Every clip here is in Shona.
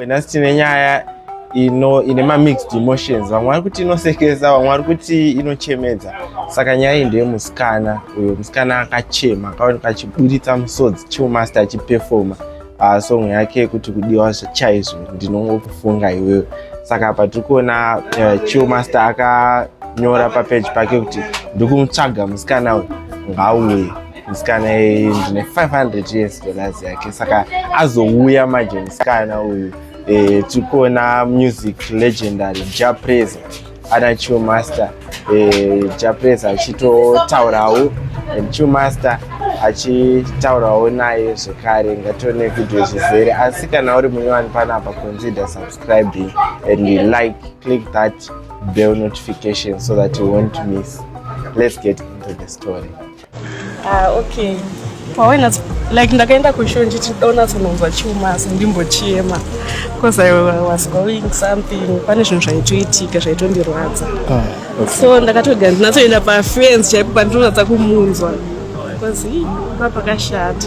Nhasi tine nyaya ino ine mamixed emotions vamwe vari kuti inosekesa vamwe vari kuti inochemedza saka nyaya iyi ndeye musikana uyo musikana akachema akaoneka achiburitsa musodzi chiumaster achipefoma ah, song yake yekuti kudiwa chaizvo ndinongokufunga iwewe saka apa tiri kuona eh, chiumaster akanyora papeji pake kuti ndikumutsvaga musikana uyu ngauye musikana iyi ndine 500 years dollars yake saka azouya manje musikana uyu eh, tiri kuona music legendary japresa ana chiomaster eh, japresa achitotaurawo chiomaster achitaurawo naye zvekare ngatione vhidhiyo zvizere asi kana uri munyowani panapa consider subscribing and like click that bell notification so that you won't miss let's get into the story Ah, okay. Pawaina like ndakaenda kushow ndichiona sononzwa chuma asi ndimbochema because I was going something pane zvinhu zvaitoitika zvaitondirwadza. Ah, okay. So ndakatoga ndinatoenda pafence chaipo pandinoratsa kumunzwa because hii papakashata.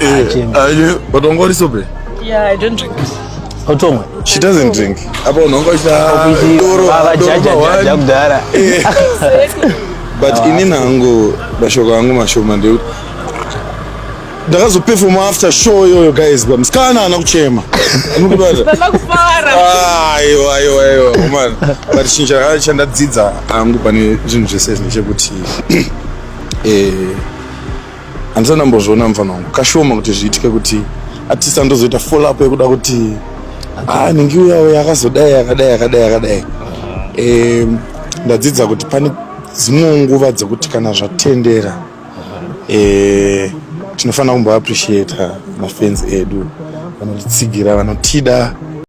Eh, uh, but ungori sobe? Yeah, I don't drink. Utomwe. She doesn't drink. Apa unongo cha doro. Baba jaja jaja kudara. Eh. But ah. ini nangu mashoko angu mashoma ndeu. Ndakazoperforma after show yoyo guys, but mskana ana kuchema. Mukubata. Baba kufara. Ah, ayo ayo ayo. Woman. But chinja kana chanda dzidza angu pane zvinhu zvese zvine chekuti eh handisati ndambozviona mufana wangu kashoma kuti zviitike kuti atisa ndozoita follow up yekuda kuti ah ningi uya uya akazodai akadai akadai akadai eh ndadzidza kuti pane dzimwe nguva dzekuti kana zvatendera eh tinofanira kumbo appreciate mafans edu vanotitsigira vanotida